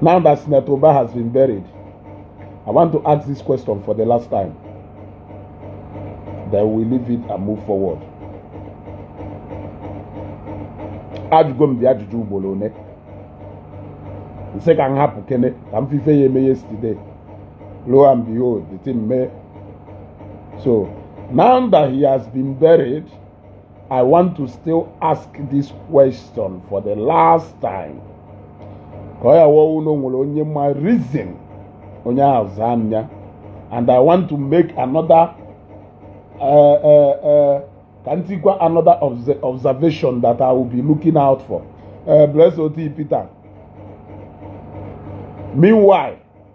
Now that Senator Uba has been buried, I want to ask this question for the last time. Then we leave it and move forward. ajụgo m the ajụjụ ugboro one nsị ka m hapụkene ka m fụ ife ya-eme yesterday lo and behold the thing mee So now that he has been buried, I want to still ask this question for the last time. Ka ọ ya-awụ ọ wụ na o nwere onye ma reason onye ahụ zaa m ya and I want to make another uh, uh, uh, ka m tikwa another obs observation that I will be looking out for. Uh, bless Oti Peter. Meanwhile,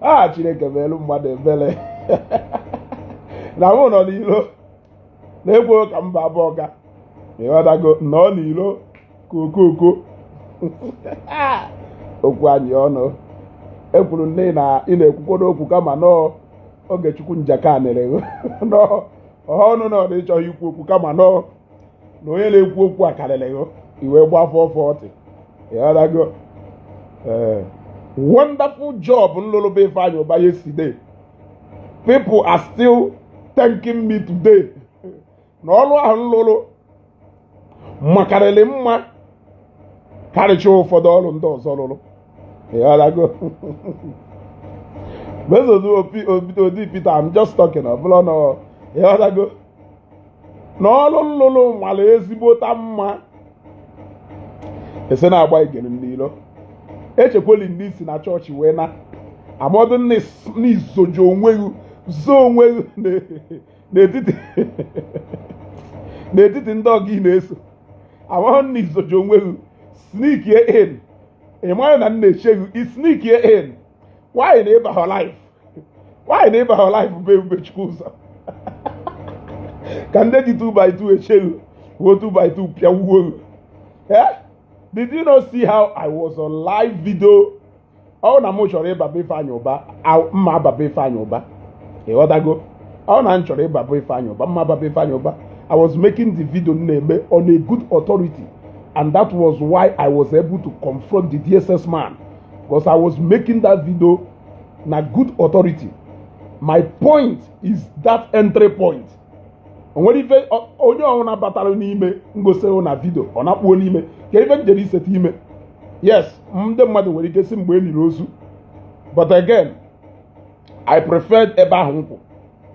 a chineke meelu mmadụ ebere na mụ nọ n'ilo na-ekwo ka mba abụọ ga ịghọtago nọọ n'ilo kokoko okwu anyị ọnụ ekwuru nne na ị na-ekwukwodo okwu kama na ọ Ogechukwu Njaka nere nọọ ọnụ na ọ na ịchọghị ikwu okwu kama na ọ na onye na-ekwu okwu akarịrị gị i wee gbafọ forty ịghọtago ee wonderful job nlụlụ be Ifeanyi Uba yesterday people are still thanking me today na ọrụ ahụ nlụlụ makarịrị mma karịcha ụfọdụ ọrụ ndị ọzọ lụrụ ịghọtago Oti Peter, I'm just talking. I'm not, you know, na ọrụ nlụlụ mara ezigbota mma ese na-agba igere n'ilo echekweli ndị isi na chọọchị wee na amọdụ na izoji onwe gị zoo onwe gị n'etiti n'etiti ndị ọgụ ị na-eso amahụ na izoji onwe gị sneak in ị maghị na m na-eche gị sneak in why na ị baha live why na ị baha live bụ ebubechukwuzọ ka ndị ji 2 by 2 eche ghụ wuo 2 by 2 pịawuo ghụ eh? did you not see how i was on live video ọ na m chọrọ ịba be ifeanyị ụba m ma aba be ifeanyị ụba ịghọtago ọ na m chọrọ ịba be ifeanyị ụba m ma aba be ifeanyị ụba i was making the video na-eme on a good authority and that was why i was able to confront the dss man because I was making that video na good authority my point is that entry point onwere ife onye ọwụna batara n'ime ngosihụ na video ọ na-akpụo n'ime kee ife njere iseta ime yes ndị mmadụ nwere ike si mgbe e niri ozu but again i preferred ebe ahụ m kwụ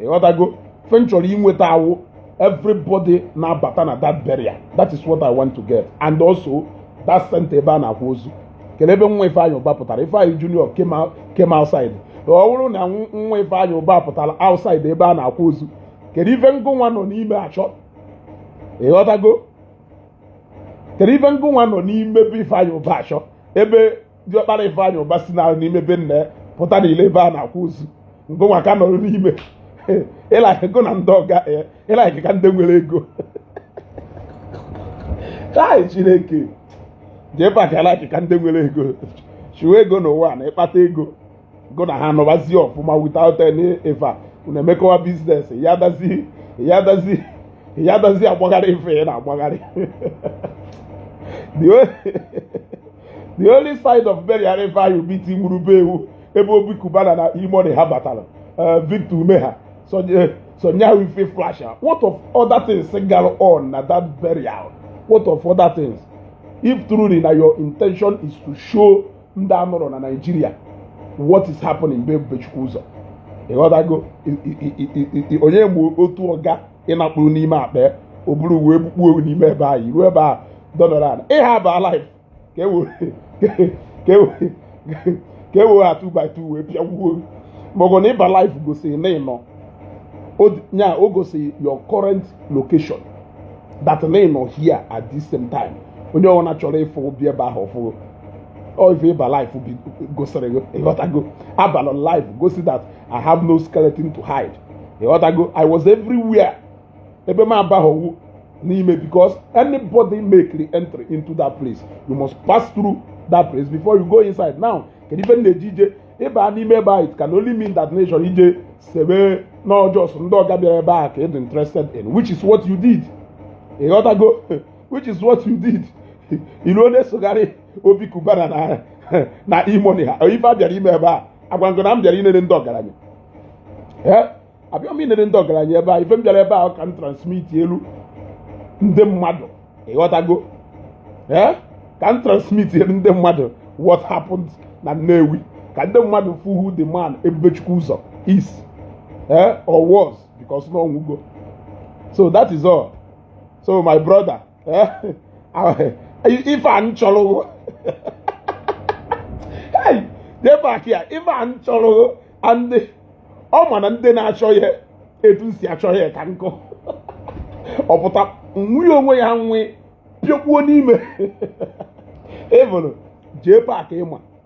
ịghọtago ife m chọrọ inweta awụ everybody na-abata na that burial that is what i want to get and also that center ebe a na-akwa ozu kelee ebe nwa Ifeanyị Uba pụtara Ifeanyị Junior came outside ọ bụrụ na nwa Ifeanyị Uba pụtara outside ebe a na-akwa ozu kedu ife ngụ nwa nọ n'ime achọ ịghọtago kedu ife ngụ nwa nọ n'ime be Ifeanyị Uba achọ ebe diọkpara Ifeanyị Ụba si na n'ime be nna ya pụta na ilo ebe a na-akwa ozu ngụnwa ka nọrọ n'ime ị like ego na ndị ọga ị like ka ndị nwere ego chai Chineke Jpac ị like ka ndị nwere ego chụwa ego n'ụwa na ịkpata ego gụ na ha nọbazie ọfụma without any ife a unu emekọwa business ya dazi ya dazi ya dazi agbagharị ife ị na-agbagharị the only the only side of burial Ifeanyị Ụba i tinwuru be awụ ebe Obi Cubana na E-Money ha batara eh, Victor Umeh ha sọ nya sọ nya awụ ife flash ha what of other things gara on na that burial what of other things if truly na your intention is to show ndị a nọrọ na Nigeria what is happening be Ebubechukwu ụzọ ịghọtago onye mgbe otu ọga ịnakpụrụ n'ime akpa o buru wee kpukpuo n'ime ebe ahụ ruo ebe a dọdọrọ ala ịha ba live ka e were ha 2 by 2 wee pịagbuo maọbụ na ị ba live gosiri na ị nọ nya o gosiri your current location that na ị nọ here at this same time onye ọbụla chọrọ ịfụ ọ bịa ebe ahụ ọ fụ gụ if you aba live be gosiri go ịghọtago abalọ live gosi that i have no skeleton to hide ịghọtago i was everywhere ebe m abaghọ wụ n'ime because anybody make the entry into that place you must pass through that place before you go inside now kedu ife na-eji ije ịba n'ime ebe a it can only mean that na ị chọrọ ije sebe na ọ just ndị ọga bịara ebe a ka ị dị interested in which is what you did ịghọtago which is what you did i luo nya sogharị Obi Cubana na na E-Money ha ife a bịara ime ebe a agwa ngụ na m bịara inere ndị ọgaranya abịa m inere ndị ọgaranya ebe a ife m bịara ebe a ka m transmitielu ndị mmadụ ịghọtago ee ka m transmitielu ndị mmadụ what happened na Nnewi ka ndị mmadụ fụ who the man Ebubechukwu ụzọ is ee or was because na ọnwụgo so that is all so my brother eh, ife a m chọrọ Jpac ya ife a m chọrọ ndị ọ ma na ndị na-achọ ya etu esi achọ ya ka nkụ ọ pụta nwunye onwe ya nwe pịọkwuo n'ime ịbụrụ Jpac ị ma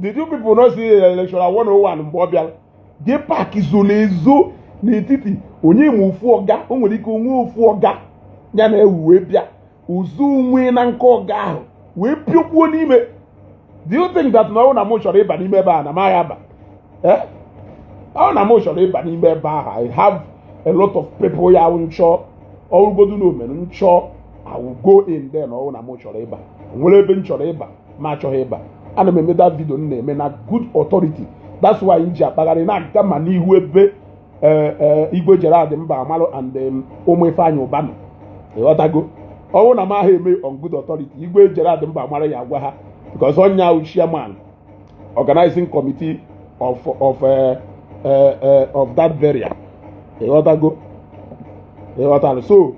did you people not see lecturer 101 mgbe ọ bịara Jpac zoro ezo n'etiti onye ma ofu ọga o nwere ike o nwee ofu ọga ya na ewu wee bịa zowe na nke ọga ahụ wee pịokpuo n'ime do you think that na ọ na m chọrọ ịba n'ime ebe a na m agha aba eh? ọ na m chọrọ ịba n'ime ebe ahụ i have a lot of people ya nchọ ọrụgodu na omere nchọ i will go in there ọ wụ na m chọrọ ịba nwere ebe m chọrọ ịba m achọghị ịba ana m eme that video m na-eme na good authority that's why m ji akpagharị na-aga ma n'ihu ebe e, e, igwe Gerald Mbamalụ and um, ụmụ Ifeanyị Ụba nọ ịghọtago ọ wụ na m ahụ eme on good authority igwe Gerald Mbamalụ ya agwa ha because ọ ya wụ chairman organizing committee of of uh, uh, uh, of that burial ịghọtago ịghọtara so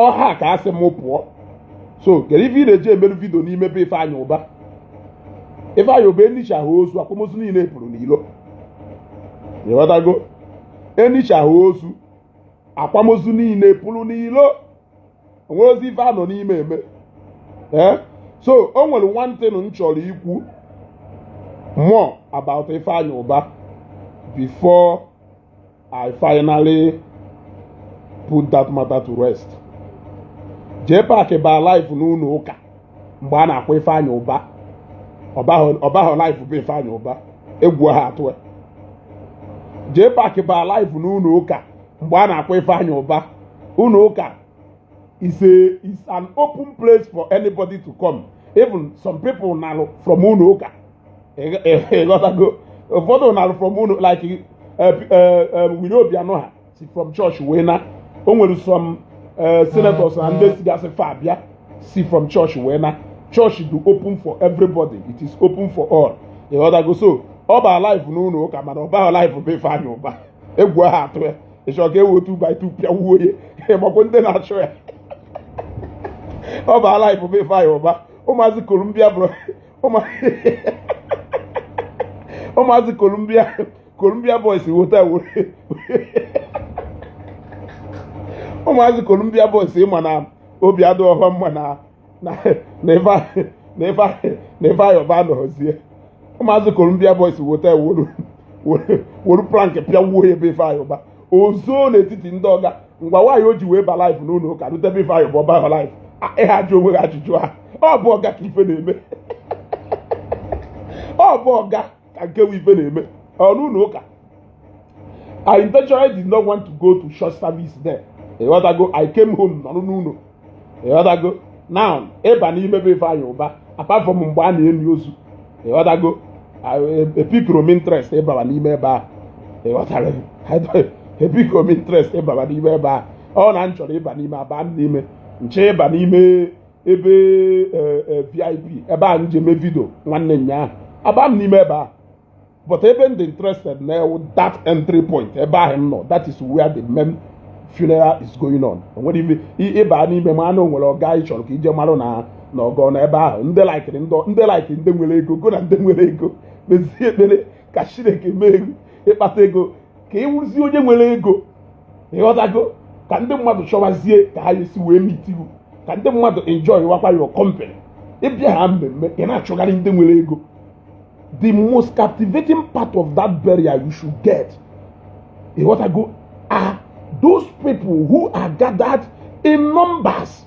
ọ ha ka asị m pụọ so kedu ife ị na-eji emerụ vidio n'ime be Ifeanyị Ụba Ifeanyị Ụba enichaa ozu akwamozu niile pụrụ n'ilo ịghọtago enichaa ozu akwamozu niile pụrụ n'ilo o nwerọzi ife a nọ n'ime eme ee eh? so o nwere one thing m chọrọ ikwu more about Ifeanyi Uba before I finally put that matter to rest Jpac baa live n'ụlọ ụka mgbe a na-akwa Ifeanyi Uba ọ bahọ live be Ifeanyi Uba egwu ha atụ ya Jpac baa live n'ụlọ ụka mgbe a na-akwa Ifeanyi Uba ụlọ ụka is a is an open place for anybody to come even some people nalụ from ụlọ ụka ịghọtago ụfọdụ nalụ from ụlọ like eh, eh, eh, Willie Obiano ha si from church wee na o nwere some senators na ndị sigasị far bịa si from church wee na church dụ open for everybody it is open for all ịghọtago so ọ baa live n'ụlọ ụka mana ọ bahọ live be Ifeanyi Uba egwu ahụ atụ ya ị chọ ka e we two by two pịawuo ya ịmakwa ndị na-achọ ya ọ baa live be Ifeanyi Uba ụmụazị Columbia boys wota ụmụazị Columbia boys ịma na obi adịhọ ha mma na n'Ifeanyi Uba anọzie ụmụazị Columbia Boys wota were plank pịawuo ya be Ifeanyi Uba o zoo n'etiti ndị ọga ngwa why o ji wee ba live n'ụlọ ụka rute be Ifeanyi Uba ọ bahọ live ị ha ajụ onwe gị ajụjụ ahụ ọ bụ ọga ka ife na-eme ọ bụ ọga ka nke bụ ife na-eme n'ụlọ ụka I intentionally did not want to go to church service there. Ịghọtago, I came home nọrọ n'ụlọ. Ịghọtago, now ịba n'ime be Ifeanyi Uba apart from mgbe a na-eni ozu. Ịghọtago, epickirọ m interest ịbara n'ime ebe a. Ịghọtara epickirọ m interest ịbara n'ime ebe a. Ọ na m chọrọ ịba n'ime aba m n'ime nchọọ ịba n'ime ebe e, e, VIP ebe a nje mee video nwanne nnyaa aba m n'ime ebe a but ebe m dị interested na ya wụ that entry point ebe ahụ m nọ that is where the main funeral is going on onwere ife ịba n'ime manụ onwere ọga ị chọrọ ka ije marụ na na ọgọ na ebe ahụ ndị likere ndị like ndị nwere ego go na ndị nwere ego mezie ekpere ka Chineke mee ị kpata ego ka ị wụrụzie onye nwere ego ịghọtago ka ndị mmadụ chọwazie ka ha esi wee meet you ka ndị mmadụ enjoywakwa your company ị bịa ha mmemme ị na-achọgharị ndị nwere ego the most captivating part of that burial you should get ịghọtago are those people who are gathered in numbers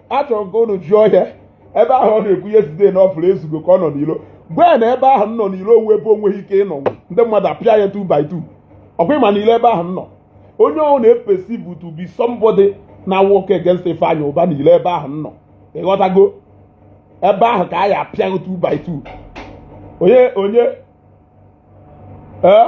achọrọ m ka unu jụọ ya ebe ahụ ọ na-ekwu yesterday na ọ fụrụ Ezugo ka ọ nọ n'ilo mgbe na ebe ahụ m nọ n'ilo ọ wụ ebe onweghị ike ịnọ ndị mmadụ apịa ya 2 by 2 ọkwa ịma n'ilo ebe ahụ m nọ onye ọwụna e perceive to be somebody na-work against Ifeanyi Uba n'ilo ebe ahụ m nọ ịghọtago ebe ahụ ka a ya-apịa gị 2 by 2 onye onye ee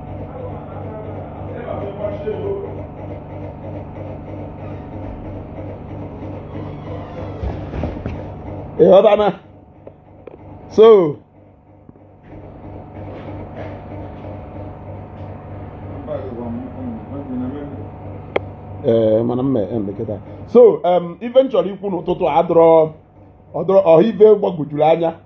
ịghọta na so ee eh, mana mme emeketa so ife m chọrọ ikwu n'ụtụtụ a dọrọ ọ dọrọ ọha ife gbagwojuru anya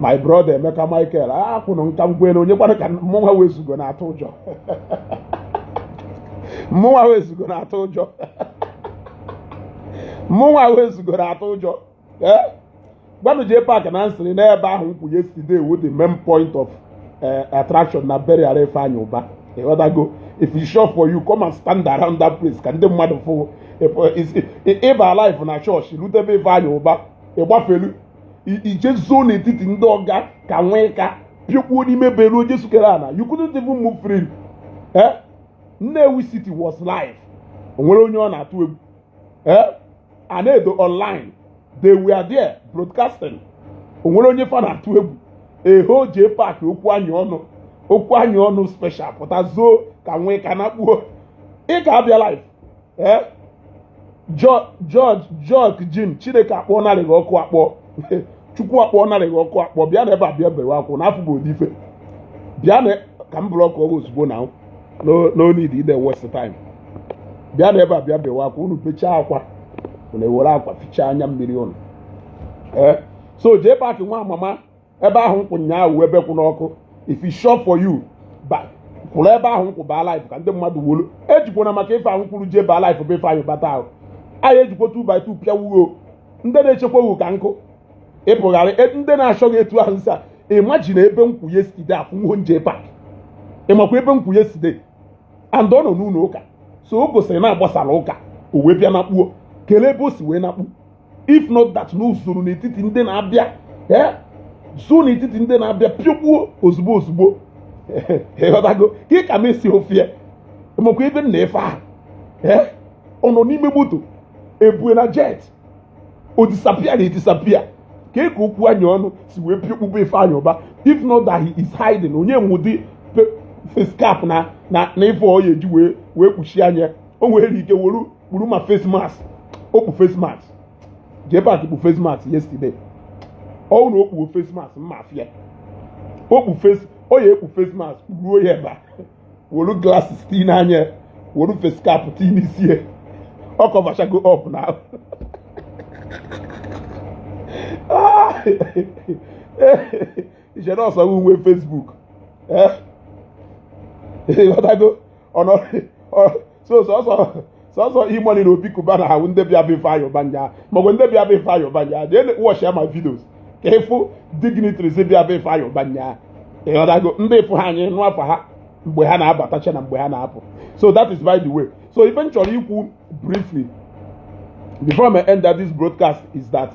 my brother Emeka Michael akwụnụ nka m kwere onye kwara ka mụnwa wezugo na-atụ ụjọ mụnwa wezugo na-atụ ụjọ mụnwa wezugo na-atụ ụjọ eh? gwanụ jee paakị na nsịrị n'ebe ahụ nkwụ yesterday wo the main point of eh, attraction na burial Ifeanyi Uba ịghọtago if it's sure for you come and stand around that place ka ndị mmadụ fụ ịba life na chọọchị rutebe Ifeanyi Uba ịgbafelu ije zoo n'etiti ndị ọga ka nwee ka pịọkpuo n'ime beruo jesu kere ana you couldn't even move freely eh? Nnewi city was live onwere onye ọ na-atụ egwu eh? Anaedo online they were there broadcasting onwere onye fa na-atụ egwu eho Jpac okwu anyị ọnụ okwu anyị ọnụ special pụta zoo ka nwee ka nakpuo ị ga-abịa live ee George George Jim chineke akpọ narị gị ọkụ akpọ chukwu akpọ narị gị ọkụ akpọ bịa na ebe a bịa bewe akwa na afọ bụ odife bịa na ka m block ọrụ ozugbo na no need ide waste time bịa na ebe a bịa bewe akwa unu bechaa akwa unu ewere akwa fichaa anya mmiri unu ee so Jpac nwa amama ebe ahụ m kwụ nyaahụ ebe kwụ n'ọkụ if it's sure for you kwụrụ ebe ahụ m kwụ baa live ka ndị mmadụ wolu ejikwana maka ife ahụ kwuru jee baa live bụ Ifeanyi Ụba ahụ anyị ejikwa 2 by 2 pịa wuo ndị na-echekwa wu ka nkụ ịpụgharị e, ndị na-achọ gị etu ahụ nsa imagine ebe m kwụ yesterday afụ nwo Jpac ịmakwa ebe m kwụ yesterday and ọ nọ n'ụlọ ụka so o gosiri na agbasara ụka o wee bịa nakpuo kelee ebe o si wee nakpu if not that na o zoro n'etiti ndị na-abịa ee zoo n'etiti ndị na-abịa pịọkpuo ozugbo ozugbo ịghọtago ka ị ka m esi ofie makwa ebe nna ife ahụ ee ọ nọ n'ime moto ebue na jet o disappear na edisappear ka eke okwu anya ọnụ si wee pịọkpu be Ifeanyi Ụba if not that he is hiding onye nwụdị face cap na na ife ọ ya eji wee wee kpuchie anya o nwere ike were kpuru ma face mask o kpu face mask Jpac kpu face mask yesterday ọ wụ na o kpuo face mask mma afịa o kpu face o ya ekpu face mask ruo ya ebe a wolu glasses tii n'anya wolu face cap tii n'isi ya ọ coverchago up na ahụ iche na ọsọ uwe Facebook eh? ịghọtago ọ nọ ọ so sọsọ sọsọ E-Money na Obi Cubana wụ ndị bịa be Ifeanyi Ụba nyaa maọbụ ndị bịa be Ifeanyi Ụba nyaa jee watchịa my videos ka ịfụ dignitaries bịa be Ifeanyi Ụba nyaa ịghọtago ndị ịfụ ha anyị nụ afa ha mgbe ha na-abatacha na mgbe ha na-apụ so that is by the way so ife m chọrọ ikwu briefly before I end that this broadcast is that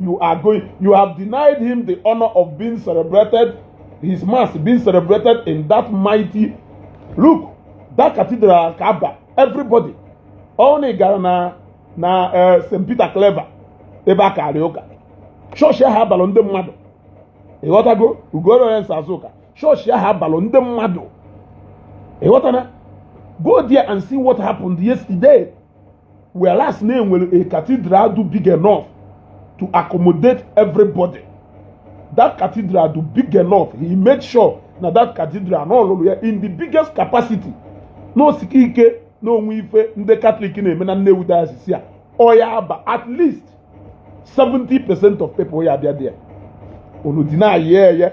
you are going you have denied him the honor of being celebrated his mass being celebrated in that mighty look that cathedral ka aba everybody unu gara na na eh, St Peter Claver ebe a kara ụka chọọchị ahụ abalụ ndị mmadụ ịghọtago ugoro onye nsa Azụka chọọchị ahụ abalụ ndị mmadụ ịghọtana go there and see what happened yesterday whereas na enwere a cathedral dụ big enough to accommodate everybody that cathedral dụ big enough he made sure na that cathedral na ọ lụlụ ya in the biggest capacity na o sika ike na o nwe ife ndị Catholic na-eme na Nnewi diocese ya ọ ya aba at least 70 percent of people ya abịa there unu deny ya eye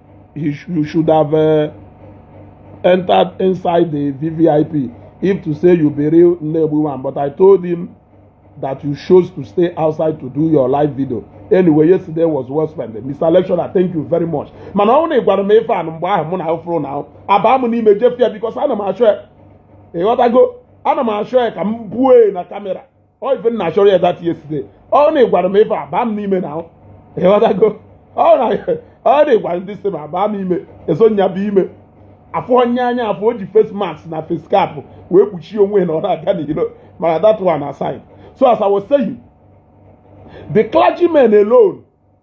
he sh you should have uh, entered inside the VVIP if to say you be real Nnewi man. But I told him that you chose to stay outside to do your live video. Anyway, yesterday was well spent. Mr. Lecturer, thank you very much. Mana ọ na ị gwara m ife a mgbe ahụ mụ na afro na aba m n'ime jefu ya because ana m achọ ya ịghọtago ana m achọ ya ka m buo na camera ọ ife m na-achọrọ ya that yesterday ọ na ị gwara m ife a baa m n'ime na ịghọtago ọ na ọ na ị gwara ndị sị m abaa m ime eso nya bụ ime afọ onye anya afọ o ji face mask na face cap wee kpuchie onwe ya na ọ na-aga n'ilo maka that one aside so as I was saying the clergymen alone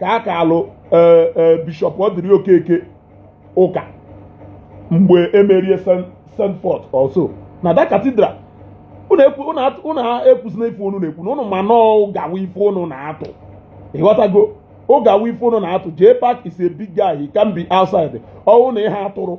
ka a kaalụ e, e, Bishop Odili Okeke ụka mgbe emerie send forth also na that cathedral unu ekwuzina ife unu na-ekwu na unu ma na ụgha wụ ife unu na-atụ ịghọtago ụgha wụ ife unu na-atụ Jpac is a big guy he can be outside ọwụ na ihe atụrụ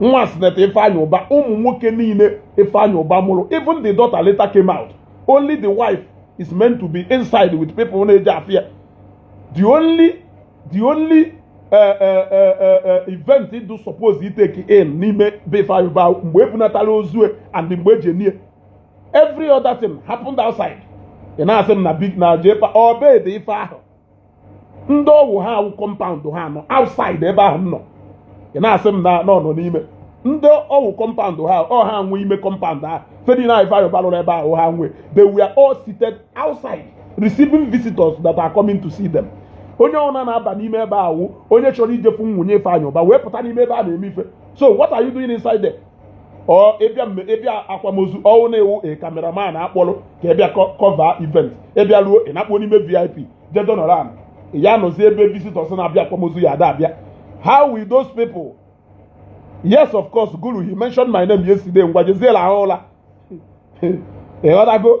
nwa Senator Ifeanyi Uba ụmụ nwoke niile Ifeanyi Uba mụrụ even the daughter later came out only the wife is meant to be inside with people na-eje afụ ya the only the only eh, eh, eh, event do suppose itake in n'ime be Ifeanyi Uba mgbe ebunatara ozu e and mgbe eji nie every other thing happened outside ị na-asị m na big na Jpac obed ife ahụ ndị ọwụ ha awụ compound ha nọ outside ebe ahụ m nọ ị na-asị m na nọ n'ime ndị ọwụ compound ha ọ ha nwe ime compound ha ife dị na Ifeanyị Uba lụrụ ebe ahụ ha nwe they were all seated outside receiving visitors that are coming to see them onye ọna na-aba n'ime ebe ahụ onye chọrọ ijefu nwunye Ifeanyị Uba wee pụta n'ime ebe a na-eme ife so what are you doing inside there ọ ịbịa mme ịbịa akwamozu ọwụ na ị wụ a cameraman akpọrọ ka ị bịa cover event ị bịa ruo ị na-akpọ n'ime VIP jedonran ya nọzi ebe visitors na-abịa akwamozu ya ada abịa how will those people yes of course guru he mentioned my name yesterday ngwa jezie lahụ ụla ịghọtago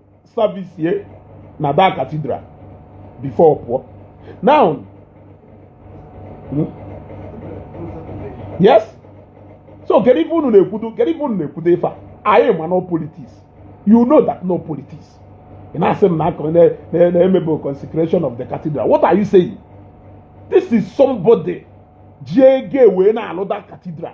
service na that cathedral before pụọ now hmm? yes so kedu ife unu na-ekwudo kedu ife unu na-ekwudo ife a anyị ma na ọ politics you know that na ọ politics ị na-asị m na na emebe consecration of the cathedral what are you saying this is somebody ji ego wee na-alụ that cathedral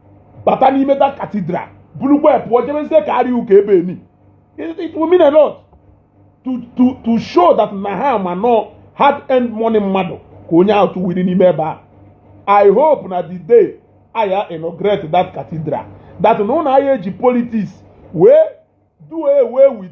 bata n'ime that cathedral bulukwa pụọ jebezie kaarị ya ụka ebe eni it will mean a lot to to to show that na ha ma na ọ hard earned money mmadụ ka onye ahụ tụwiri n'ime ebe a i hope na the day aya inaugurate that cathedral that na unu aya eji politics wee do away with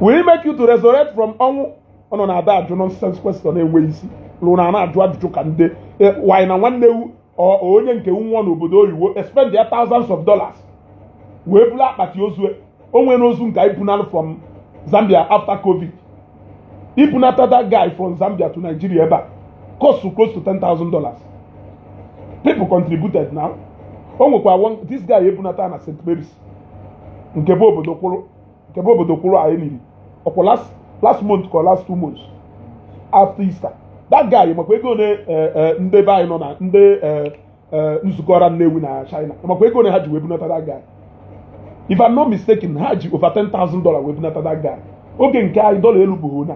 will it make you to resurrect from ọnwụ ọ nọ na-ada ajụ nonsense question na-enweghị isi lụrụ na na-ajụ ajụjụ ka ndị e, why na nwanne wụ onye nke nwa n'obodo oyibo expend their thousands of dollars wee bula akpati ozu e. o nwere ozu nke anyị bunalụ from Zambia after covid ibunata that guy from Zambia to Nigeria ebe a cost close to ten thousand dollars people contributed now o nwekwa this guy ebunata na St. Mary's nke bụ obodo kwụrụ nke bụ obodo kwụrụ anyị niri ọ kwa last last month ka last two months after Easter that guy makwa ego ole eh, eh, ndị be anyị nọ na ndị eh, nzukọ ọra Nnewi na China makwa ego ole ha ji wee bunata that guy if I'm not mistaken ha ji over ten thousand dollar wee bunata that guy oge nke anyị dọla elu bụ na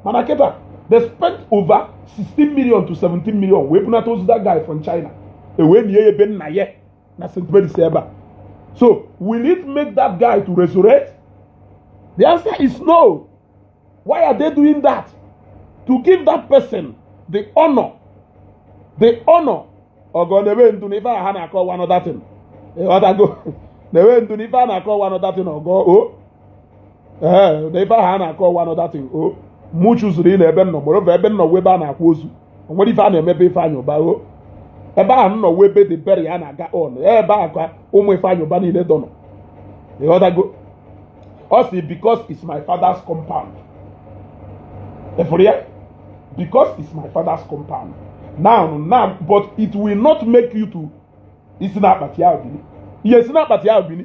mana kịta they spent over 16 million to 17 million wee bunata ozu that guy from China e wee nie ebe nna ya na St. Mary's ebe a so will it make that guy to resurrect the answer is no why are they doing that to give that person the honor the honor ọgọ na-ebe ndu na ife ha na-akọ one other thing ị ghọtago na-ebe ndu na ife a na-akọ one other thing ọgọ o ee na ife ahụ a na-akọ one other thing o mụ chụzuru ile ebe m nọ mụrụ ebe m nọ ebe a na-akwa ozu o nwere ife a na-emebe Ifeanyị Uba o ebe ahụ m nọ wee ebe the burial na-aga on ebe ahụ ka ụmụ Ifeanyị Uba niile dọnọ ị ghọtago ọ si because it's my father's compound efuru ya because it's my father's compound now now but it will not make you to isi na akpati ahụ bini isi na akpati ahụ bini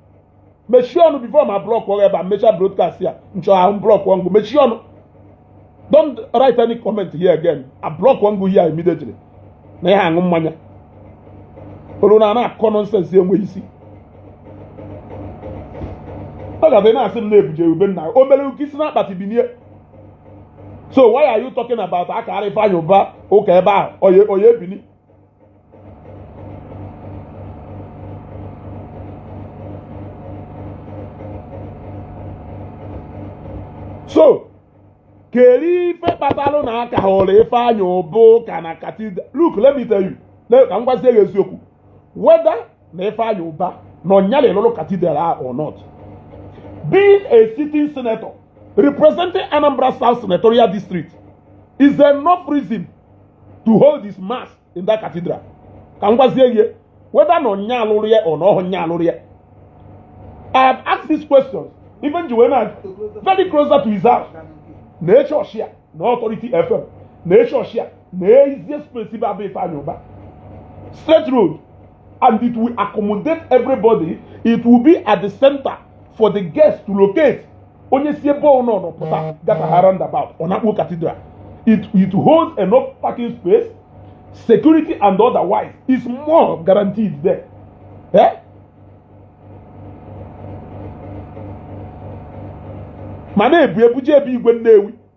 mechie ọnụ before ma block wụ ebe a mecha broadcast ya m chọọ wụ block ọngụ mechie ọnụ don't write any comment here again a block ọngụ here immediately na ị ya-aṅụ mmanya olu na a na-akọ nonsense enweghị isi ọ ga-abụ na asị m na ebuje wụ be nna o mere wụ ka i si na akpati binie so why are you talking about akara Ifeanyị Ụba ụka ebe ahụ ọ ya-ebini so kedu ife kpatalụ na akahọrọ Ifeanyi Ụba ụka na cathedral look let me tell you ka m gwazie gị eziokwu whether na Ifeanyi Ụba na ọ nya lụrụ cathedral a or not being a sitting senator representing Anambra South senatorial district is enough reason to hold his mass in that cathedral ka m gwazie gị whether na ọ nya lụrụ ya or na ọhụ nya lụrụ ya I have asked these questions even ji wee na very closer to his house na eche ọchịa na authority fm na eche ọchịa na easiest place bụ be ifeanyị ụba straight road and it will accommodate everybody it will be at the center for the guests to locate onye si ebe ọ nọ pụta gataha roundabout ọ na-akpọ cathedral it, it holds enough parking space security and otherwise is more guaranteed there eh? ma na-ebu ebuje ebe igwe nnewi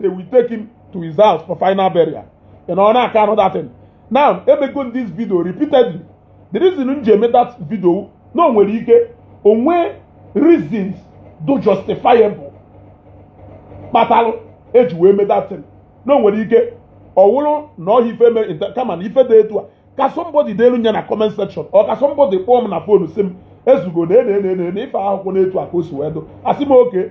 they will take him to his house for final burial ị nọ na-aka anụ that thing now emego m this video repeatedly the reason m ji eme that video na o nwere ike o nwee reasons dụ justifiable kpatalụ eji wee mee that thing na o nwere ike ọ wụrụ na ọhịa ife mere inter- kama na ife dị etu a ka somebody deelu nya na comment section or ka somebody kpọọ m na phone sị m ezugo na ene ene ene ife ahụkwụ n'etu a ka o si wee dụ asị m okay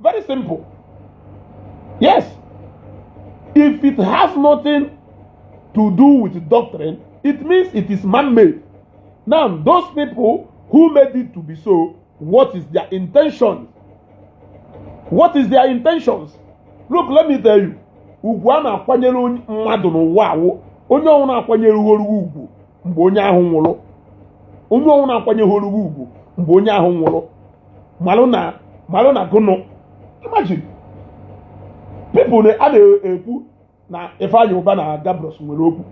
Very simple. Yes. If it has nothing to do with doctrine, it means it is man made. Now, those people who made it to be so, what is their intention? What is their intentions? Look, let me tell you. Ugwu a na-akwanyere mmadụ n'ụwa a wụ onye ọwụna akwanyehọrọ gụ ugwu mgbe onye ahụ nwụrụ onye ọwụna akwanyehọrọ gụ ugwu mgbe onye ahụ nwụrụ malụ na malụ na gụnụ imagine people a na-ekwu na Ifeanyi Uba na Gabros nwere okwu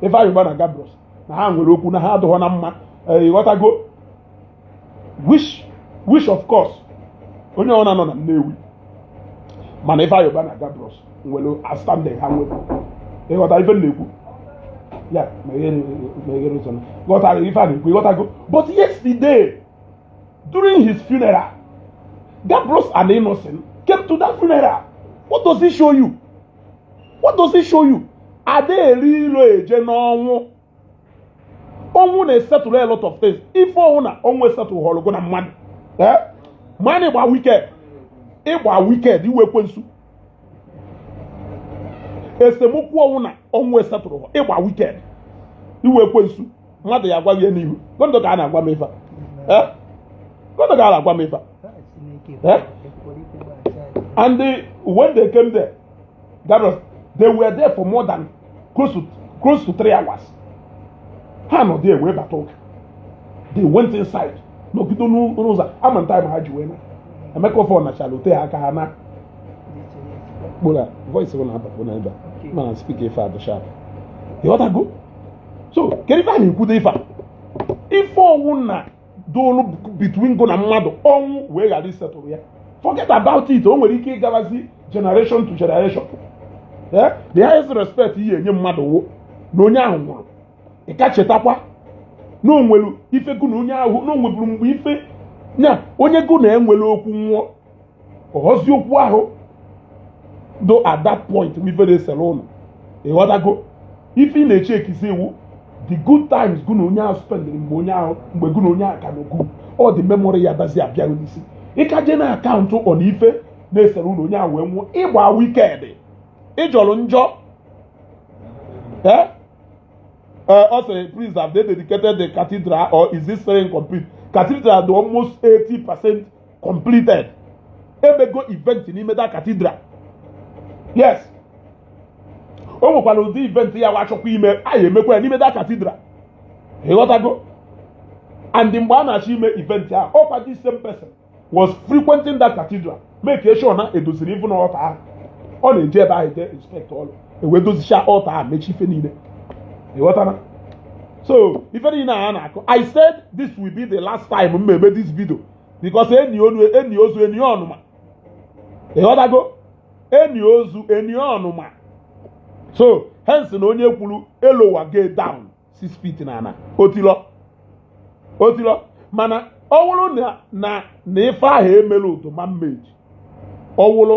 Ifeanyi Uba na Gabros na ha nwere okwu na ha adịghọ na mma eh, ịghọtago which which of course onye ọwụna nọ na Nnewi ma na Ifeanyi Uba na Gabros nwere outstanding ha nwere ịghọta ife na-ekwu ya meghere ụzọ ghọtara ife a na-ekwu ịghọtago but yesterday during his funeral Gabros and Innocent came to that funeral what does it show you what does it show you ada eri ilo eje n'ọnwụ ọnwụ na-esettle a lot of things ife ọwụna ọnwụ esettlehọrọ gụ na mmadụ eh? mana ị gba wicked ị gba wicked ị wụ ekwensu esemokwu ọwụna ọnwụ esettle ị gba wicked ị wụ ekwensu mmadụ ya agwa ya n'ihu gondo ka a na-agwa m ife eh? gondo ka a na-agwa m ife eh? and when they came there that was they were there for more than close to close to three hours ha nọ there wee bata ụka they went inside nọgide n'ụzọ ama nta ma ha ji wee na emeka ofe ọnachara ote ha aka ha na kpora voice bụ na-abapụ na ebe a mana speak ife a dị sharp ịghọtago so kedu ife a na-ekwudo ife a ife ọwụna dolu between gụ na mmadụ ọnwụ wee ghara isettle ya forget about it o nwere ike ịgarazi generation to generation eh? the highest respect ị ya-enye mmadụ wụ na onye ahụ nwụrụ ị ka chetakwa na o nwere ife gụ na onye ahụ na o nweburu mgbe ife na onye gụ na ya nwere okwu nwụọ ọhọzi okwu ahụ do at that point wụ ife na-esere ụnụ ịghọtago ife ị na-echekizi wụ the good times gụ na onye ahụ spendịrị mgbe onye ahụ mgbe gụ na onye ahụ ka n'okwu all the memory ya dazi abịa gị n'isi ị ka je na-akaụntụ on ife na-esere ụnụ onye ahụ wee nwụọ ịgba wicked ị jọrọ njọ ee Uh, also, please, have they dedicated the cathedral or is it still incomplete? Cathedral dị almost 80% completed e mego event n'ime that cathedral yes o nwekwara ụdị event ya wụ a chọkwa ime anyị emekwa ya n'ime that cathedral ịghọtago and mgbe a na-achọ ime event a ọkwa this same person was frequenting that cathedral make sure na e doziri even altar ahụ ọ na-eje ebe ahụ jee inspect ọlụ e wee dozicha altar ahụ mechaa ife niile ịghọtara so ife niile a na-akọ i said this will be the last time m eme this video because enie onu enie ozu enie ọnụma ịghọtago enie ozu enie ọnụma so hence na onye kwuru e lowergo ya down six feet na ana otilọ otilọ mana ọ wụrụ na na ife ahụ e mere ụtụ ma mmeji ọ wụrụ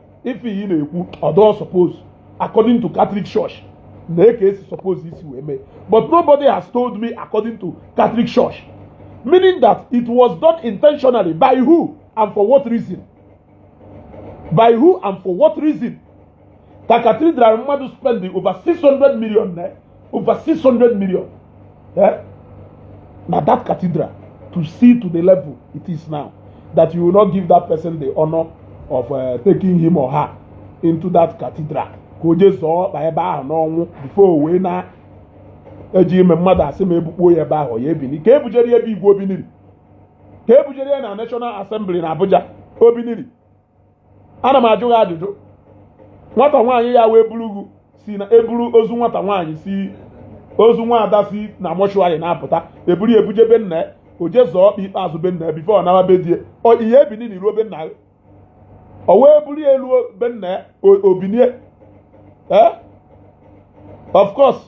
ife iyi na-ekwu ọdọ suppose according to Catholic Church na eke esi suppose isi wee mee but nobody has told me according to Catholic Church meaning that it was done intentionally by who and for what reason by who and for what reason ka cathedral mmadụ spend over 600 million naira over 600 million eh? na that cathedral to see to the level it is now that you will not give that person the honor of uh, taking him or her into that cathedral ka o jee zọọ ọkpa ebe ahụ n'ọnwụ before o wee naa e je ime mmadụ asị ma e bukpo ya ebe ahụ ọ ya-ebini ka e bujere ya be igwe o biniri ka e bujere ya na National Assembly na Abuja o biniri ana m ajụ gị ajụjụ nwata nwaanyị ya wee buru gị sị na e buru ozu nwata nwaanyị sị ozu nwa ada si na mortuary na-apụta e buru ya buje be nna ya o je zọọ ọkpa ikpeazụ be nna ya before ọ nawa be di ya ọ ya-ebini na e ruo be nna ya ọ wụ e buru ya luo be nna ya o binie eh? of course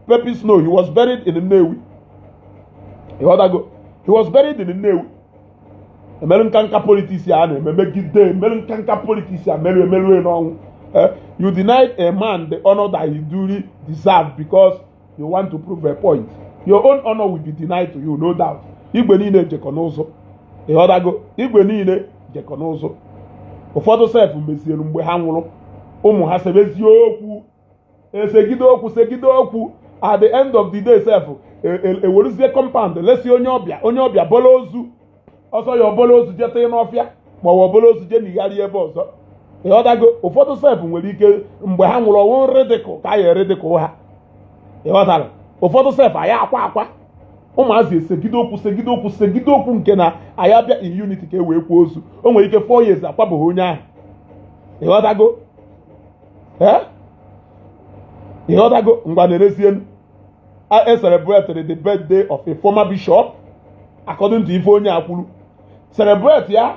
Pepe Snow he was buried in Nnewi ịghọtago he was buried in Nnewi emerụ nka nka politics a na-eme megide emerụ nka nka politics a merụ emerụ n'ọnwụ eh, you denied a man the honor that he duly deserved because you want to prove a point your own honor will be denied to you no doubt igwe niile jekọ n'ụzụ ịghọtago igwe niile jekọ n'ụzụ ụfọdụ sef mezielu mgbe ha nwụrụ ụmụ ha sebezie okwu esegide okwu segide okwu at the end of the day sef eweruzie e, e compound lesi onye ọbịa onye ọbịa bọla ozu ọ sọ ya ọ bọla ozu je tụọ n'ọfịa ma ọ ọ bọla ozu je nigharị ebe ọzọ ịghọtago ụfọdụ sef nwere ike mgbe ha nwụrụ ọnwụ ridicule ka a ya-eridicule ha ịghọtara ụfọdụ sef anyị akwa akwa ụmụazị esegide okwu segide okwu segide okwu nke na anyị abịa in unity ka e wee kwaa ozu o nwere ike four years akwabeghị onye ahụ ịghọtago ee ịghọtago ngwa na-erezie e celebrated the birthday of a former bishop according to ife onye a kwuru celebrate ya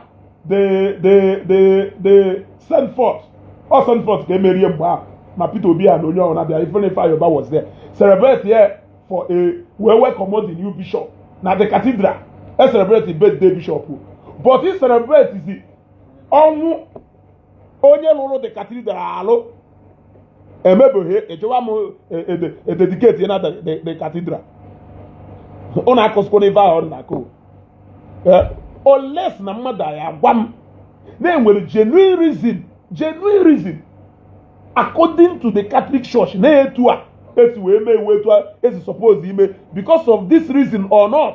the the the the send forth ọ send forth ka emerie mgbe ahụ ma Peter Obi a na onye ọbụna abịa ife na Ifeanyi Uba was there celebrate ya for a wee welcome the new bishop na the cathedral e celebrate birthday bishop but e celebrate the ọnwụ onye lụrụ the cathedral alụ emebeghị echewa m ededicate e, e na the cathedral ụnụ akọsịkwa n'ife ahụ ọ na-akọ eh, unless na mmadụ ya-agwa m na e nwere genuine reason genuine reason according to the Catholic Church na etu a e si wee mee wụ etu a e si suppose ime because of this reason or not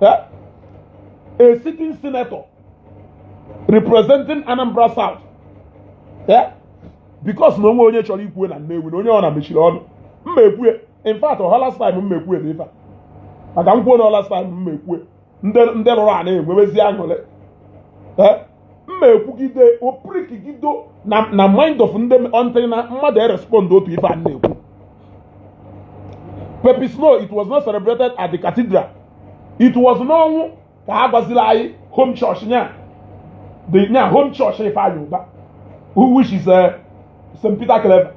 eh? a sitting senator representing Anambra South eh? because na o nwe onye chọrọ ikwue na Nnewi na onye ọ na mechiri ọnụ mma ekwue in fact ọhọ last time mma ekwue na ife maka nkwuo na ọla last time mma ekwue ndị lụrụ a na-enwebezi aṅụrị eh? mma ekwugide opirikigido na na mind of ndị until na mmadụ erespond to ife a na-ekwu Pepe Snow it was not celebrated at the cathedral it was n'ọnwụ ka ha gwaziri anyị home church nya the nya home church Ifeanyi Uba who which is uh, St. Peter Claver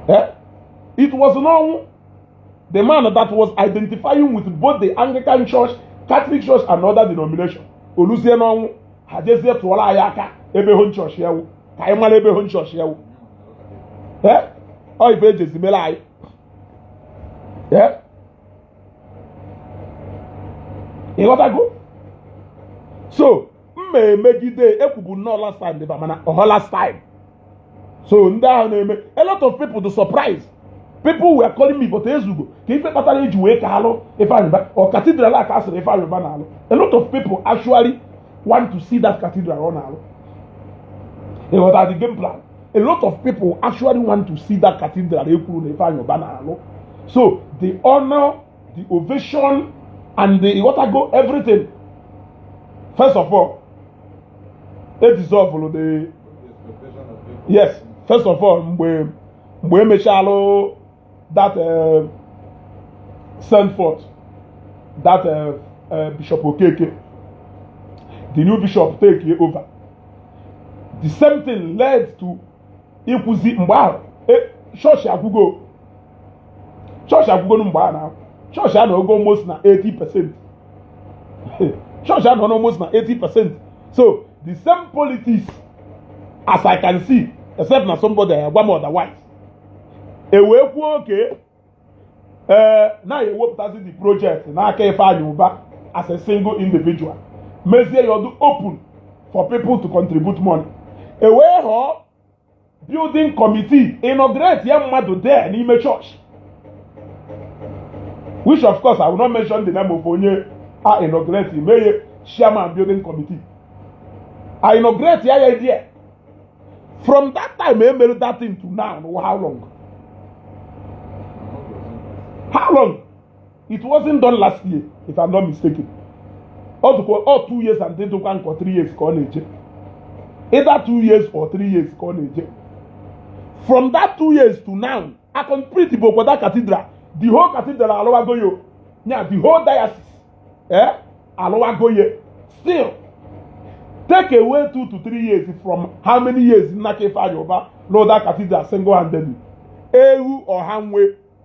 eh? it was n'ọnwụ the man that was identifying with both the Anglican Church, Catholic Church and other denomination o luzie n'ọnwụ ha jezie tụọla anyị aka ebe home church ya wụ ka anyị mara ebe home church ya wụ ọ ife e jezi mela anyị ịghọtago so mma emegide ekwubu nnọọ last time dịba mana ọhọ last time so ndị ahụ na-eme a lot of people dụ surprise people were calling me but ezugo ka ife kpatara eji wee ka alụ Ifeanyi Uba or cathedral a ka a sịrị Ifeanyi Uba na-alụ a lot of people actually want to see that cathedral ọ na-alụ ịghọta the game plan a lot of people actually want to see that cathedral ekwuru na Ifeanyi Uba na-alụ so the honor the ovation and the ịghọtago everything first of all e dissolve the yes first of all mgbe mgbe emechalụ that uh, send forth that uh, uh, bishop okeke the new bishop take over the same thing led to ịkwụzi mgbe ahụ chọọchị agwụgo chọọchị agwụgonu mgbe a na-ekwu chọọchị anọgo almost na 80 percent chọọchị a nọ almost na 80 percent so the same politics as i can see except na somebody agwa m otherwise ewee kwuo okay ee eh, na ewepụtazi the project n'aka Ifeanyi Uba as a single individual mezie ya ọ dụ open for people to contribute money ewee họọ building committee inaugurate ya mmadụ there n'ime church which of course I will not mention the name of onye a inaugurate meye chairman building committee I inaugurate ya ya there from that time e mere that thing to now how long how long it wasn't done last year if I'm not mistaken ọ dụkwa ọ two years and dịdụkwa nkọ three years ka ọ na-eje either two years or three years ka ọ na-eje from that two years to now I complete Igbokwada cathedral the whole cathedral alụwago ya nya the whole diocese eh alụwago ya still take away two to three years from how many years Nnaka Ifeanyi Uba n'ụda cathedral single handedly ewu ọha nwe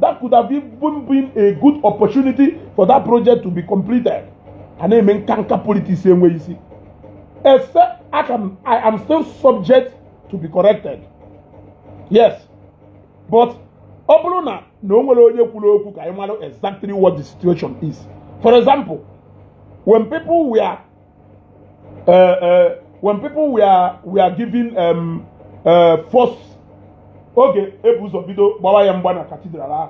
that could have even been a good opportunity for that project to be completed a na-eme nkanka politics enweghị isi except I can I am still subject to be corrected yes but ọ bụrụ na na o nwere onye kwuru okwu ka anyị mara exactly what the situation is for example when people were uh, uh, when people were were giving um, uh, force oge ebu ụzọ bido gbawa ya mgba na cathedral ahụ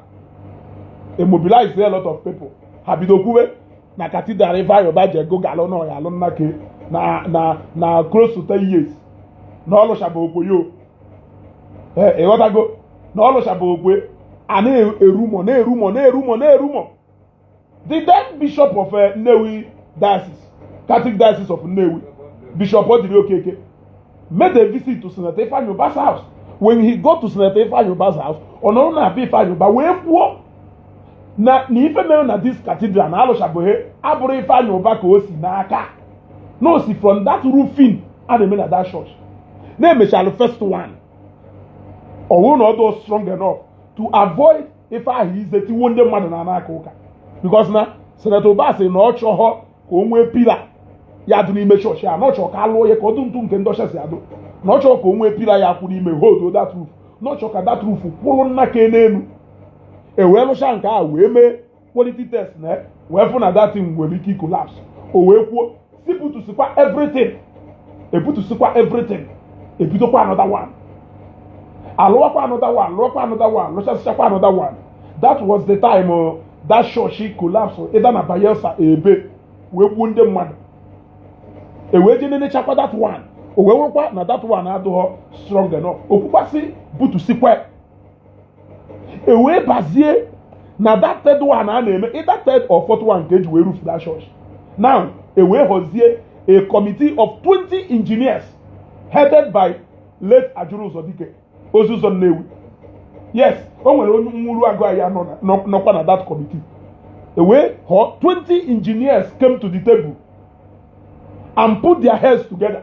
emobilize a lot of people ha bido kwuwe na cathedral Ifeanyi Uba ji ego alụ na ọ ya alụ nnake na na na close to ten years na ọ lụshabọkwe ya ịghọtago na ọ lụshabọkwe a na-erumọ na-erumọ na-erumọ na-erumọ the then bishop of eh, Nnewi diocese Catholic diocese of Nnewi Bishop Odili Okeke made a visit to Senator Ifeanyi Uba's house when he got to Senator Ifeanyi Uba's house ọ nọrọ na be Ifeanyi Uba wee kwuo na na ife mere na this cathedral na alụchabeghị abụrụ Ifeanyi Uba ka o si n'aka na o si from that roofing a na-eme na that church na emechalụ first one ọ bụrụ na ọ dịghọ strong enough to avoid ife ahụ ize tiwo ndị mmadụ na a na-aka ụka because na Senator Uba sị na ọ chọghọ ka o nwee pillar ya dị n'ime chọọchị a na ọ chọọ ka alụọ ya ka ọ dụ ntụ nke ndị ọcha si adụ na ọ chọọ ka o nwee pillar ya kwụ n'ime holdo that roof na ọ chọọ ka that roof kwụrụ nnake n'elu e wee lụcha nke a wee mee quality test na wee fụ na that thing nwere ike icollapse o wee kwuo sị butusikwa everything e butusikwa everything e bidokwa another one a lụwakwa another one lụọkwa another one lụchasịchakwa another one that was the time uh, that church collapse either na Bayelsa ebe wee gbuo ndị mmadụ e wee je nenechakwa that one o wee nwekwa na that one adịghọ strong enough o kwukwa sị butusikwa e wee bazie na that third one a na-eme either third or fourth one nke e ji wee roof that church now e wee họzie a committee of 20 engineers headed by late Ajulu Uzodike Oziuzo Nnewi yes o nwere onye Uruagu anyị nọkwa na that committee e wee họọ 20 engineers came to the table and put their heads together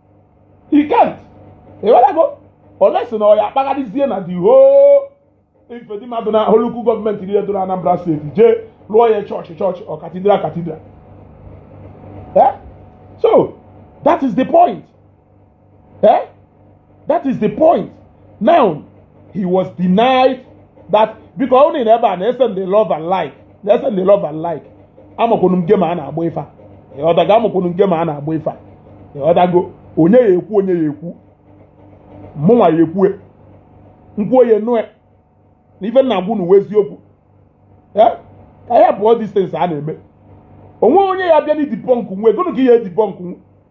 he can't ịghọtago unless na ọ ya-akpagharịzie na the whole ife dị mmadụ na whole local government niile dị na Anambra state jee lụọ ya church church or cathedral cathedral eh? so that is the point eh? that is the point now he was denied that because unu nọ ebe a na-esend love and like na-esend love and like amakwunu m game a na-agba ife ịghọtago amakwunu m game a na-agba ife ịghọtago onye ya-ekwu onye ya-ekwu mụnwa ya-ekwue m kwuo onye nụe na ife m na-agwa unu wụ eziokwu ka ya all these things a na-eme o nwe onye ya-abịanụ debunkue gụnụ ka ị ya-edebunkue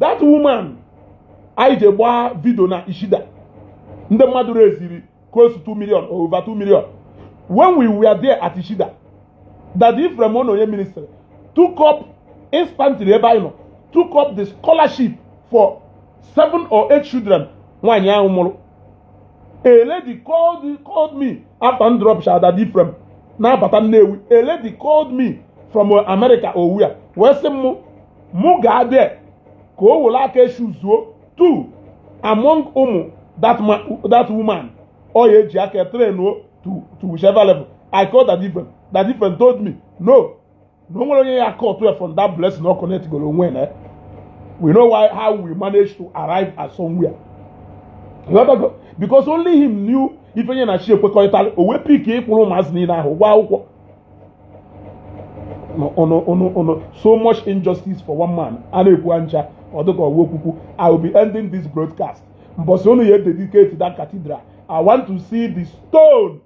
that woman anyị je gbaa video na Ichida ndị mmadụ leziri close to 2 million or over 2 million when we were there at Ichida Daddy Ephraim Ononye ministry took up instantly ebe anyị nọ took up the scholarship for seven or eight children nwaanyị ahụ mụrụ a lady called, called me after m dropuchara Daddy Ephraim na-abata Nnewi a lady called me from America or where wee sị m mụ gaa there ka o were aka e choose-ụọ two among ụmụ that woman ọ ya-eji aka train-ụọ to to whichever level I call Daddy Ephraim Daddy Ephraim told me no na o nwere onye ya aka otu from that blessing ọ connectgoro onwe na we know why how we manage to arrive at somewhere because only him knew ife nye na chi e kwekọrịtara o wee pick ịkwụrụ ụmụazị niile ahụ ụgwọ akwụkwọ so much injustice for one man a na-ekwu ncha ọ dịka ọwa okwukwu i will be ending this broadcast mbọsị unu ya dedicate that cathedral i want to see the stone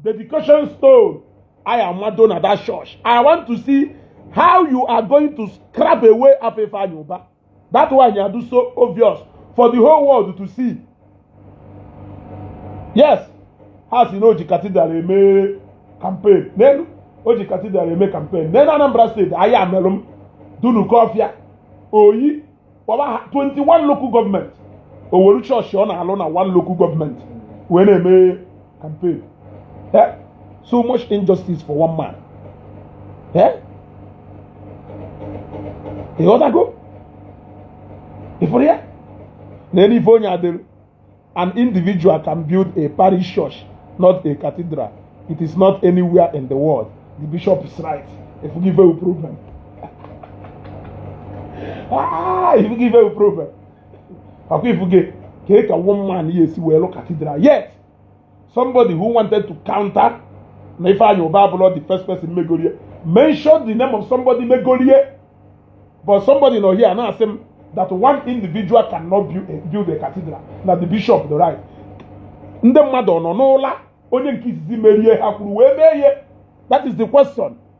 dedication stone i am amado na that church i want to see how you are going to scrap away afefe anyụba that's why nya dụ so obvious for the whole world to see yes ha sị na o ji cathedral eme campaign n'elu o ji cathedral eme campaign n'elu Anambra state Ayamelum Dunukofia Oyi kpọba ha 21 local government o weru church ọ na-alụ na one local government wee na-eme and pay eh? so much injustice for one man eh? ị ghọtago ịfụrụ ya na elu ife onye adịrị an individual can build a parish church not a cathedral it is not anywhere in the world the bishop is right if you give a problem ah if you give a problem ọ kwa ị fụghị ka ị ka one man ya-esi wee lụ cathedral yet somebody who wanted to counter na Ifeanyi Uba abụrọ the first person megorie mention the name of somebody megorie but somebody nọ here na-asị m that one individual cannot build a, build a cathedral na the bishop dị right ndị mmadụ ọ nọ n'ụla onye nke izizi merie ha kwuru wee mee ihe that is the question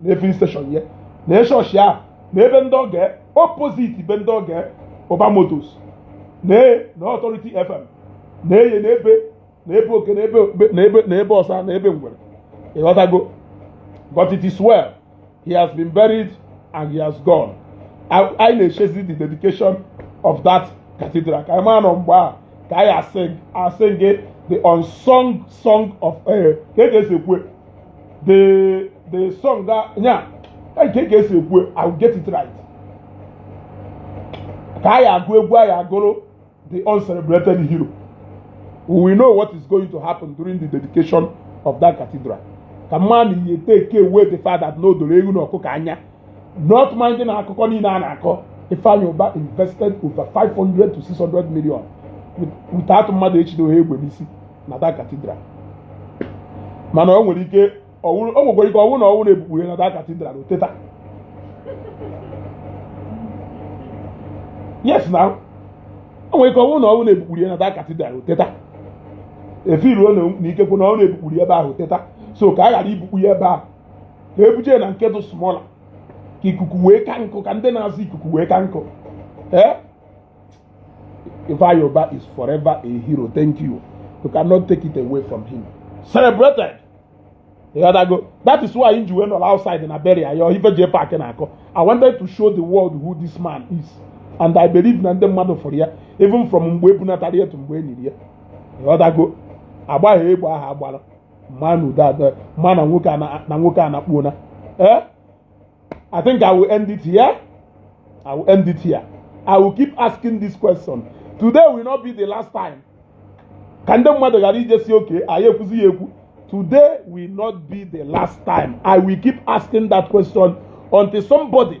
na filling station ya na church ya na be ndị ọgọ ya opposite be ndị ọgọ ya Uba Motors na na Authority FM na eye na ebe na ebe oke na ebe ọsa na ebe ngwere ị ghọtago but it is well he has been buried and he has gone anyị na-echezi the dedication of that cathedral ka anyị mara na ọ mgbe a ka anyị a-sing the unsung song of eh, ka e ga-esi ekwu the the song that nya kee ka e si ekwu i will get it right ka a ya-agụ egwu a ya-agụrụ the uncelebrated hero we know what is going to happen during the dedication of that cathedral kama na ihe take away the fact that na o doro ewu na ọkụkọ anya not minding akụkọ niile a na-akọ Ifeanyi Uba invested over 500 to 600 million without mmadụ echido ha egbe n'isi na that cathedral mana o nwere ike o nwekwara ike ọ wụ na ọ wụ na e bukpure na that cathedral o teta yes now o nwere ike ọ wụ na ọ wụ na e bukpure na that cathedral o teta efiruo na ikekwe na ọ na e bukpure ebe ahụ o teta so ka a ghara ibukpu ya ebe ahụ ka e buje na nke dị smaller ka ikuku wee ka nkụ ka ndị na-azụ ikuku wee ka nkụ eh? Ifeanyi Uba is forever a hero thank you you cannot take it away from him celebrated ị ghọtago that is why m ji wee nọrọ outside na burial ya ife jee paakị na-akọ I wanted to show the world who this man is and I believe na ndị mmadụ fụrụ ya even from mgbe e bunatara ya to mgbe e niri ya ị ghọtago a gbaghị egbe ahụ a gbara mmadụ adịghị ama na nwoke a na- na nwoke a anakpuona eh I think I will end it here. I will end it here. I will keep asking this question. Today will not be the last time. Ka ndị mmadụ ghara ije sị okay anyị ekwuzi ya ekwu. Today will not be the last time. I will keep asking that question until somebody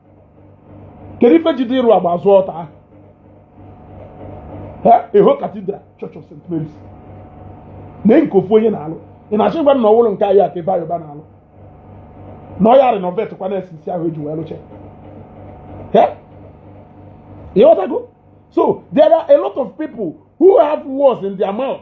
kedu ife jide ịrụ agba azụ ọta a whole cathedral church of st mary's na nke ofu onye na-alụ ị na-achọ ịgwa m na ọ wụrụ nke ahụ ka Ifeanyi Uba na-alụ na ọ ya renovate kwa na sisi ahụ e ji wee lụcha ị ghọtago so there are a lot of people who have words in their mouth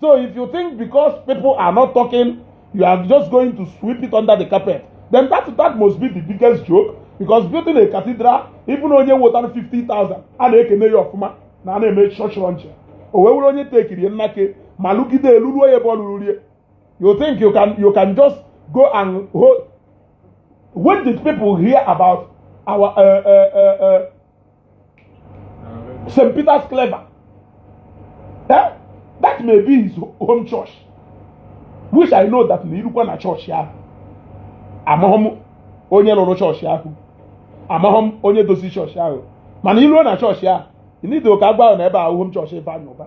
So if you think because people are not talking, you are just going to sweep it under the carpet, then that, that must be the biggest joke because building a cathedral, even onye wetara 50,000, a na-ekene ya ọfụma na a na-eme church launch. O wee were onye tekiri nnake ma lụgide elu ruo ebe ọ lụrụ rie. You think you can, you can just go and hold. When did people hear about our uh, uh, uh, uh, St. Peter's Claver. Eh? That may be his home church. Which I know that na i rukwa na chọọchị ahụ amahọ m onye lụrụ chọọchị ahụ amahọ m onye dozi chọọchị ahụ mana i ruo na chọọchị ahụ ị nido ka a gwa gị na ebe ahụ home chọọchị Ifeanyi Ubah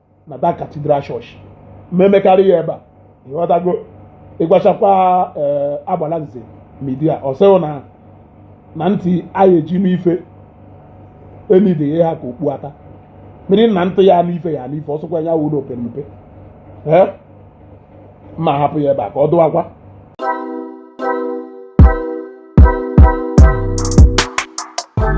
na that cathedral church ma emekarị ya ebe a ị ghọtago ị gwachakwa ee eh, Agbalanze Media ọ sị gị na na ntị a ya-eji nụ ife enidighi ịha ka okpu ata mmiri na ntị ya-anụ ife ya-anụ ife ọ sọkwa ya wụrụ o pe mpe eh? ma hapụ ya ebe a ka ọ dụwakwa